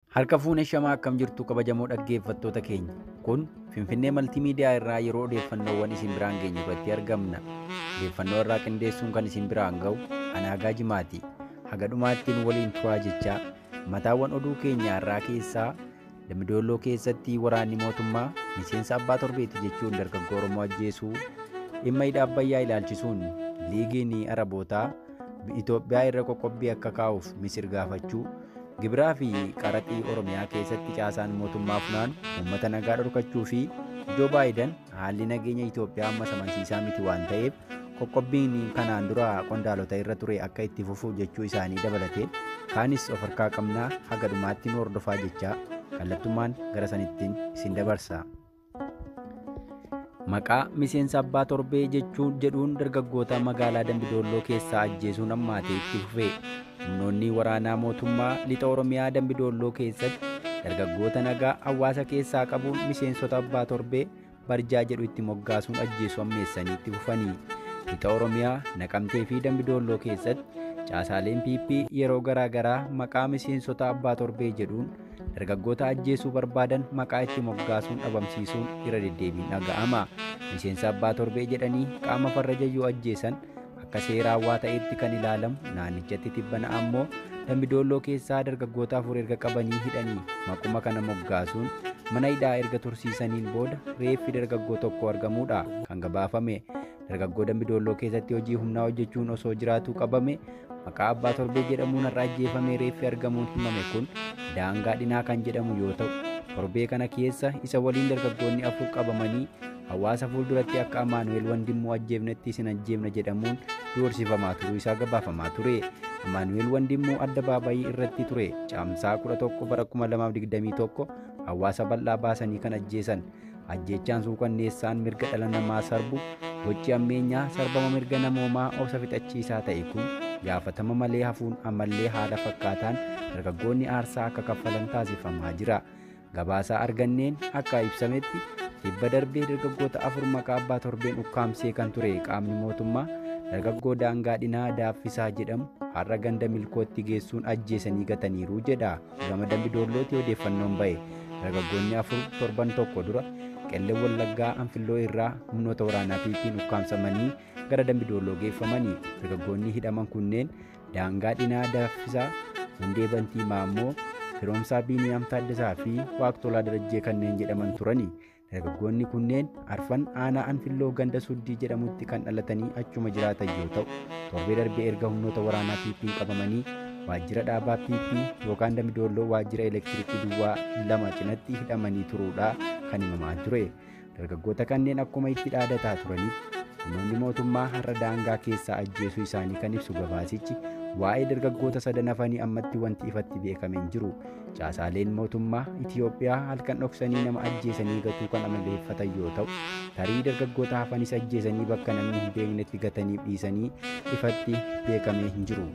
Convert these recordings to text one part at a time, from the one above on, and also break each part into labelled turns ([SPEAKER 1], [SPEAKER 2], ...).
[SPEAKER 1] Harka fuune shamaa akkam jirtu kabajamoo dhaggeeffattoota keenya. Kun Finfinnee Maltiimiidiyaa irraa yeroo odeeffannoowwan isin biraan geenyu irratti argamna. Odeeffannoo irraa qindeessuun kan isin biraan ga'u Anaagaa Jimaati. Haga dhumaatti nu waliin turaa jechaa mataawwan oduu keenya irraa keessaa Dambidolloo keessatti waraanni mootummaa miseensa abbaa torbeeti jechuun dargaggoo Oromoo ajjeesuu dhimma hidha Abbayyaa ilaalchisuun liigiin Arabootaa Itoophiyaa irra qoqqobbii akka kaa'uuf Misir gaafachuu Gibiraa fi qaraxii Oromiyaa keessatti caasaan mootummaa funaanu uummata nagaa dhorkachuu fi Joo Baayidan haalli nageenya Itoophiyaa ammas amansiisaa miti waan ta'eef qoqqobbiin kanaan dura qondaalota irra ture akka itti fufu jechuu isaanii dabalatee kaanis of harkaa qabnaa haga dhumaatti nu hordofaa jechaa kallattummaan gara sanittiin isin dabarsa. Maqaa miseensa abbaa torbee jechuun jedhuun dargaggoota magaalaa Dambidoolloo keessaa ajjeesuun hammaatee itti fufe. Humnoonni waraanaa mootummaa lixa Oromiyaa Dambidoolloo keessatti dargaggoota nagaa hawaasa keessaa qabuun miseensota abbaa torbee barjaa jedhu itti moggaasuun ajjeesuu hammeessanii itti fufanii. Lixa Oromiyaa Naqamtee fi Dambidoolloo keessatti caasaaleen PP yeroo garaagaraa maqaa miseensota abbaa torbee jedhuun Dargaggoota ajjeesuu barbaadan maqaa itti moggaasuun dhabamsiisuun irra deddeebiin dhaga'ama. Miseensa abbaa torbee jedhanii qaama farra jayyoo ajjeesan akka seeraa waa ta'eetti kan ilaalamu naannichatti tibbana ammoo Dambidoolloo keessaa dargaggoota afur erga qabanii hidhanii maquma kana moggaasuun mana hidhaa erga tursiisaniin booda reeffi dargaggoo tokko argamuudha kan gabaafame. dargaggoo dambi doolloo keessatti hojii humnaa hojjechuun osoo jiraatuu qabame maqaa abbaa torbee jedhamuun har'a ajjeefamee reeffi argamuun himame kun daangaa dhinaa kan jedhamu yoo ta'u torbee kana keessa isa waliin dargaggoonni afur qabamanii hawaasa fuulduratti akka amaanu'eel wandimmoo ajjeefnetti isin ajjeefna jedhamuun doorsifamaa turuu isaa gabaafamaa ture amaanu'eel wandimmoo adda baabayii irratti ture caamsaa 11 bara 2021 hawaasa bal'aa baasanii kan ajjeesan Ajjeechaan suukanneessaan mirga dhala namaa sarbu, gochi ammeenyaa sarbama mirga namoomaa obsa fixachiisaa ta'e kun gaafatama malee hafuun ammallee haala fakkaataan dargaggoonni aarsaa akka kaffalan taasifamaa jira. Gabaasaa arganneen akka ibsametti tibba darbee dargaggoota afur maqaa abbaa torbeen ukkaamsee kan ture qaamni mootummaa dargaggoo daangaa dhinaa daaffisaa jedhamu har'a ganda milkootti geessuun ajjeesanii gataniiru jedha. Gama Dambi Doollootii odeeffannoon ba'e dargaggoonni afur torban tokko dura Qellem Wallaggaa Anfilloo irraa humnoota waraanaa PP'n ukkaamsamanii gara Dambi Doolloo geeffamanii dargaggoonni hidhaman kunneen Daangaa Dhinaa Daffisaa, Hundee Bantii Maammoo, Firoomsaa Biiniyaam Taaddasaa fi Waaqtolaa Darajjee kanneen jedhaman turani. Dargaggoonni kunneen arfan aanaa Anfilloo ganda Suddii jedhamutti kan dhalatanii achuma jiraatan yoo ta'u, torbee darbee erga humnoota waraanaa PP'n qabamanii waajjira dhaabaa PP yookaan Damidoolloo waajjira elektirikii duwwaa lama cinatti hidhamanii turuudha kan himamaa ture. Dargaggoota kanneen akkuma itti dhaadataa turanitti humnoonni mootummaa har'a daangaa keessaa ajjeesuu isaanii kan ibsu gabaasichi waa'ee dargaggoota sadan hafanii ammatti wanti ifatti beekame hin jiru. Caasaaleen mootummaa Itiyoophiyaa halkan dhoksanii nama ajjeesanii gatuu kan amaleeffatan yoo ta'u, tarii dargaggoota hafanis ajjeesanii bakka namni hin beeknetti gataniif dhiisanii ifatti beekamee hin jiru.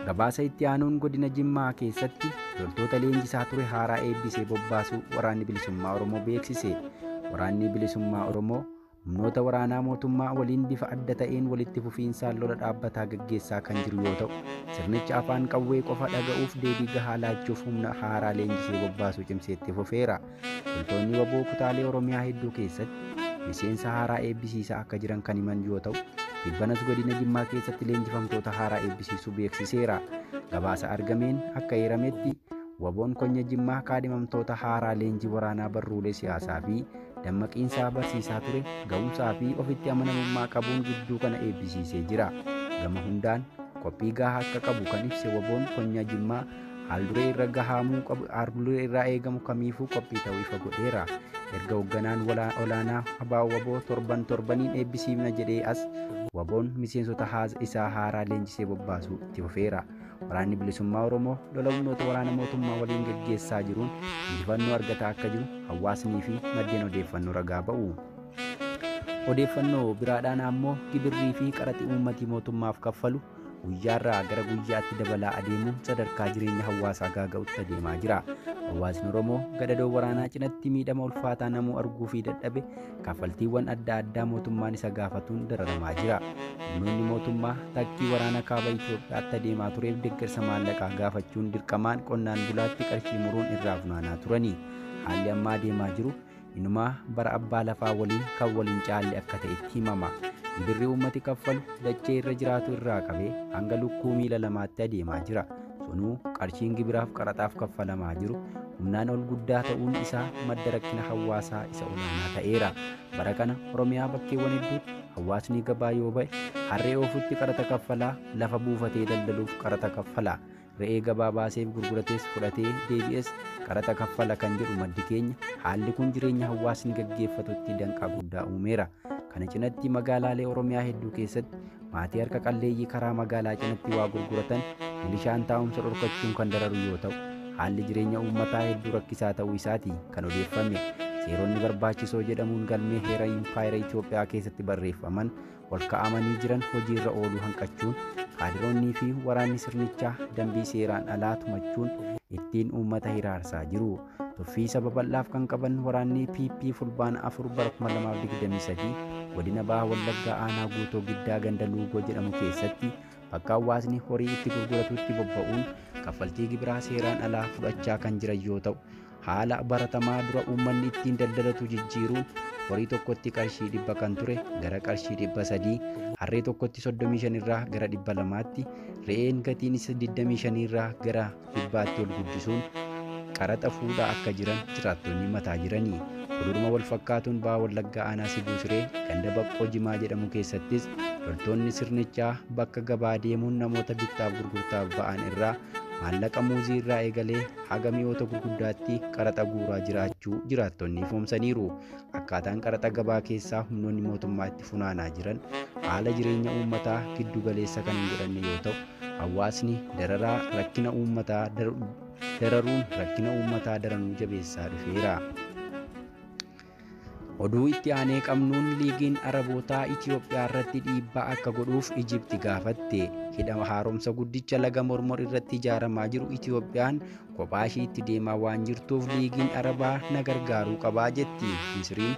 [SPEAKER 1] Gabaasa itti aanuun godina Jimmaa keessatti loltoota leenjisaa ture haaraa eebbisee bobbaasuu waraanni bilisummaa Oromoo beeksise. Waraanni bilisummaa Oromoo humnoota waraanaa mootummaa waliin bifa adda ta'een walitti fufiinsaan lola dhaabbataa gaggeessaa kan jiru yoo ta'u, sirnichi afaan qawwee qofa dhaga'uuf deebii gahaa laachuuf humna haaraa leenjisee bobbaasuu cimsee itti fufeera. Loltoonni waboo kutaalee Oromiyaa hedduu keessatti miseensa haaraa eebbisiisaa akka jiran kan himan yoo ta'u, dhibbanas godina Jimmaa keessatti leenjifamtoota haaraa eebbisiisuu beeksiseera. Gabaasa argameen akka eerametti waboon konya Jimmaa kaadhimamtoota haaraa leenjii waraanaa barruulee siyaasaa fi dammaqiinsaa barsiisaa ture ga'umsaa fi ofitti amanamummaa qabuun gidduu kana eebbisiisee jira. Gama hundaan qophii gahaa akka qabu kan ibse waboon konyaa Jimmaa haalduree irra gahaamuu qabu haalduree irraa eegamu kamiifuu qophii ta'uu ifa godheera. Erga hoogganaan olaanaa abaa waboo torban torbaniin eebbisiifna jedhee as waboon miseensota haasa isaa haaraa leenjisee bobbaasuu itti fufeera. Waraanni bilisummaa Oromoo lola humnoota waraana mootummaa waliin gaggeessaa jiruun injifannoo argataa akka jiru hawaasnii fi maddeen odeeffannoo ragaa ba'u. Odeeffannoo biraadhaan ammoo gibirrii fi qaraxii uummatii mootummaaf kaffalu guyyaarraa gara guyyaatti dabalaa adeemuun sadarkaa jireenya hawaasaa gaaga'utti adeemaa jira. Hawaasni Oromoo gadadoo waraanaa cinatti miidhama ulfaataa namuu arguu fi dadhabe kaffaltiiwwan adda addaa mootummaan isa gaafatuun dararamaa jira. Humnoonni mootummaa takkii waraana kaaba Itoophiyaatti adeemaa tureef deeggarsa maallaqaa gaafachuun dirqamaan qonnaan bulaatti qarshii muruun irraa funaanaa turani. Haalli ammaa adeemaa jiru inumaa bara abbaa lafaa waliin kan waliin caalle akka ta'etti himama. Gibirri uummati kaffalu dachee irra jiraatu irraa qabee hanga lukkuu miila lamaatti adeemaa jira. Sunuu qarshiin gibiraaf qaraxaaf kaffalamaa jiru humnaan ol guddaa ta'uun isaa madda rakkina hawaasaa isa olaanaa ta'eera. Bara kana Oromiyaa bakkeewwan hedduutti hawaasni gabaa yoo ba'e harree oofutti qaraxa kaffalaa lafa buufatee daldaluuf qaraxa kaffala. Re'ee gabaa baaseef gurguratees fudhatee deebi'es qaraxa kaffala kan jedhu maddi keenya haalli kun jireenya hawaasni gaggeeffatutti danqaa guddaa uumeera. Kana cinatti magaalaalee Oromiyaa hedduu keessatti maatii harka qalleeyyii karaa magaalaa cinatti waa gurguratan milishaan taa'umsa dhorkachuun kan dararu yoo ta'u haalli jireenya uummataa hedduu rakkisaa ta'uu isaati kan odeeffame seeronni barbaachisoo jedhamuun galmee heera impaayera Itoophiyaa keessatti barreeffaman ol ka'amanii jiran hojiirra ooluu hanqachuun kaadiroonnii fi waraanni sirnichaa dambii seeraan alaa tumachuun ittiin uummata hiraarsaa jiru. Tuffii isa babal'aaf kan qaban waraannii PP Fulbaana 4 bara 2023 godina Baha Wallaggaa aanaa guutoo giddaa ganda Luugoo jedhamu keessatti bakka hawaasni horii itti gurguratutti bobba'uun kaffaltii gibiraa seeraan alaa fudhachaa kan jiran yoo ta'u haala baratamaa dura uummanni ittiin daldalatu jijjiiruun horii tokkotti qarshii dhibba kan ture gara qarshii dhibba sadii harree tokkotti 35 irraa gara dhibba lamaatti re'een gatiin isa 25 irraa gara kibbaatti ol guddisuun qaraxa fuudhaa akka jiran jiraattonni mataa jiranii. Huduruma wal fakkaatuun Baha Wallaggaa Aanaa Sibuu Siree ganda Baqqoo Jimaa jedhamu keessattis loltoonni sirnichaa bakka gabaa deemuun namoota bittaaf gurgurtaaf ba'an irraa maallaqa muuzii irraa eegalee haga mi'oota gurguddaatti qaraxa guuraa jiraachuu jiraattonni ifoomsaniiru. Akkaataan qaraxa gabaa keessaa humnoonni mootummaa itti funaanaa jiran haala jireenya uummataa giddu galeessa kan hin godhanne yoo ta'u, Hawaasni dararaa rakkina uummataa dararuun rakkina uummataa daranuu jabeessaa dhufeera. Oduu itti aanee qabnuun liigiin Arabootaa Itiyoophiyaa irratti dhiibbaa akka godhuuf Ijipti gaafatte. Hidha haaromsa guddicha laga mormor irratti ijaaramaa jiru Itiyoophiyaan Kophaa ishiitti deemaa waan jirtuuf liigiin Arabaa na gargaaruu qabaa jetti. Misriin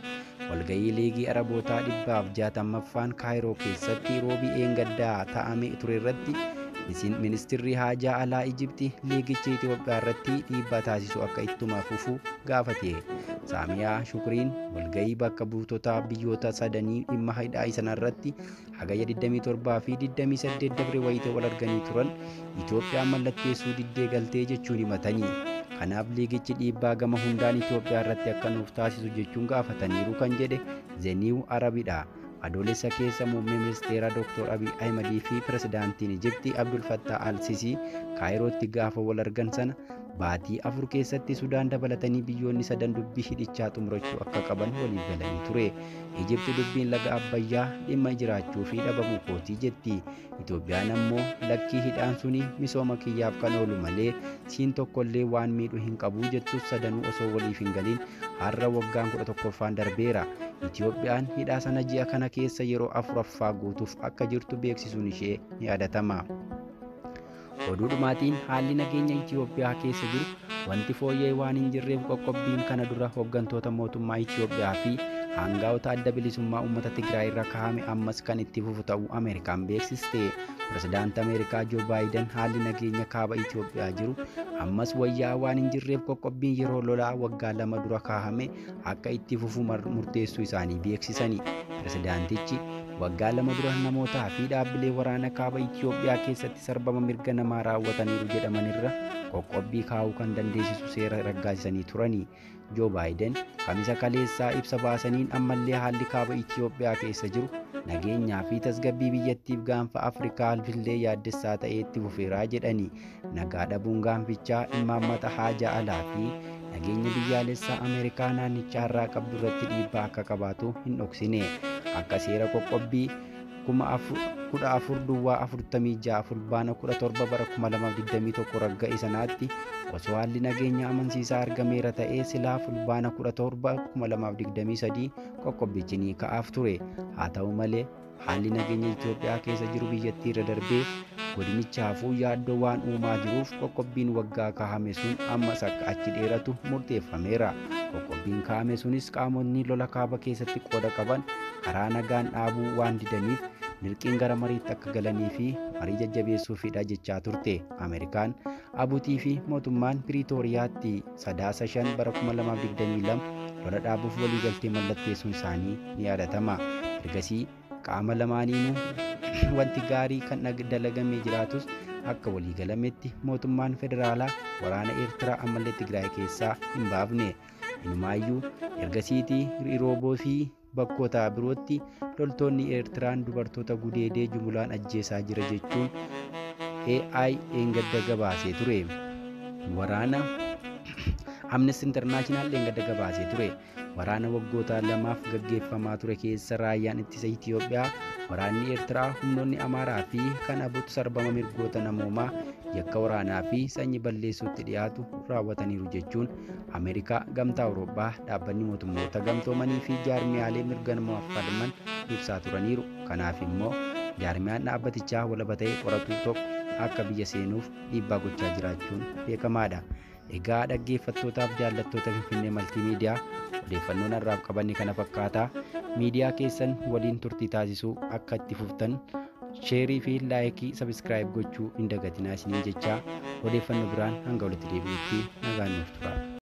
[SPEAKER 1] walgahii liigii Arabootaa dhibbaaf jaatammaffaan Kaayiroo keessatti roobii eengaddaa ta'ame ture irratti ministirri haajaa alaa Ijibti liigichi Itoophiyaa irratti dhiibbaa taasisu akka ittuma fufu gaafate. Saamiyaa Shukriin walgahii bakka buutotaa biyyoota sadanii dhimma hidhaa sanarratti Hagayya 27 fi 28 dabre wayita wal arganii turan Itoophiyaan mallatteessuu diddee galtee jechuun himatanii kanaaf liigichi dhiibbaa gama hundaan Itoophiyaa irratti akka nuuf taasisu jechuun gaafataniiru kan jedhe Zeniiw Arabidha. Adoolessa keessa muummee ministeeraa Dr. Abiy Ahimadii fi pirezidaantiin Ijipti Abdul Fattah al-Sisii Kaayirootti gaafa wal argan sana Baatii afur keessatti Sudaan dabalatanii biyyoonni sadan dubbii hidhichaa xumurachuu akka qaban waliif galanii ture. Ijipti dubbiin laga Abbayyaa dhimma jiraachuu fi dhabamuu kootii jetti. Itoophiyaan ammoo lakkii hidhaan suni misooma kiyyaaf kan oolu malee siin tokkollee waan miidhu hin qabu jettus sadanuu osoo waliif hin galin har'a waggaan kudha tokkoffaan darbeera. Itoophiyaan hidhaa sana ji'a kana keessa yeroo afuraffaa guutuuf akka jirtu beeksisuun ishee ni yaadatama. Oduu dhumaatiin haalli nageenya Itiyoophiyaa keessa jiru wanti fooyya'e waan hin jirreef qoqqobbiin kana dura hooggantoota mootummaa Itiyoophiyaa fi aangaa'ota adda bilisummaa uummata Tigraay irra kaa'ame ammas kan itti fufu ta'uu Ameerikaan beeksiste. Pirezidaanti Ameerikaa Joo Baayiden haalli nageenya kaaba Itiyoophiyaa jiru ammas wayyaa waan hin jirreef qoqqobbiin yeroo lolaa waggaa lama dura kaa'ame akka itti fufu murteessuu isaanii beeksisani. Pirezidaantichi waggaa lama dura namootaa fi dhaabbilee waraana kaaba Itiyoophiyaa keessatti sarbama mirga namaa raawwataniiru jedhamanirra qoqqobbii kaa'uu kan dandeessisu seera raggaasisanii turani. Joo Baayiden kamisa kaleessaa ibsa baasaniin ammallee haalli kaaba Itiyoophiyaa keessa jiru nageenyaa fi tasgabbii biyyattiif gaanfa Afrikaa illee yaaddessaa ta'ee itti fufeeraa jedhani. Nagaa dhabuun gaanfichaa immaammata haajaa alaa fi nageenya biyyaalessaa Ameerikaa naannichaa irraa qabdu irratti dhiibbaa akka qabaatu hin dhoksine. Akka seera qoqqobbii 14 duwwaa 46 fulbaana 17 bara 2021 ragga'e sanaatti osoo haalli nageenya amansiisaa argameera ta'ee silaa fulbaana 17 2023 qoqqobbichi ni ka'aaf ture. Haa ta'u malee Haalli nageenya Itoophiyaa keessa jiru biyyattii irra darbee godinichaafuu yaaddoo waan uumaa jiruuf qoqqobbiin waggaa kaa'ame sun ammas akka achi dheeratu murteeffameera. Qoqqobbiin kaa'ame sunis qaamotni lola kaaba keessatti qooda qaban karaa nagaan dhaabuu waan didaniif dirqiin gara mariitti akka galanii fi marii jajjabeessuufidha jechaa turte Ameerikaan, Abutii fi mootummaan Piriitooriyaatti. Sadaasa 5 bara 2022 lola dhaabuuf waliigaltee mallatteessuun isaanii ni yaadatama. Ergasii qaama lamaaniinuu wanti gaarii kan dalagamee jiraatus akka waliigalametti mootummaan federaalaa waraana Eertiraa ammallee Tigraay keessaa hin baafne. Inumaayyuu ergasiitii Rooboo fi Bakkoota birootti loltoonni Eertiraan dubartoota gudeedee jumulaan ajjeesaa jira jechuun AI dheengadda gabaasee ture. Waraana Amnesty International dheengadda gabaasee ture. Waraana waggoota lamaaf gaggeeffamaa ture keessa raayyaan ittisa Itiyoophiyaa, waraanni Eertiraa, humnoonni Amaaraa fi kan abutu sarbama mirgoota namoomaa yakka waraanaa fi sanyi balleessuutti dhiyaatu raawwataniiru jechuun Ameerikaa, Gamtaa Awurooppaa, Dhaabbanni Mootummoota Gamtoomanii fi jaarmiyaalee mirga namaaf falman ibsaa turaniiru. Kanaaf immoo jaarmiyaan dhaabbatichaa walaba ta'e qoratu tokko akka biyya seenuuf dhiibbaa gochaa jiraachuun beekamaadha. Egaa dhaggeeffattootaaf jaallattoota Finfinnee Maltii Miidiyaa odeeffannoon har'aaf qabanne kana fakkaata. Miidiyaa keessan waliin turtii taasisuu akka itti fuftan sheerii fi laayikii sabiskiraayib gochuu hin dagatinaa isiniin jechaa odeeffannoo biraan hanga walitti deebi'utti nagaan nuuf turaa.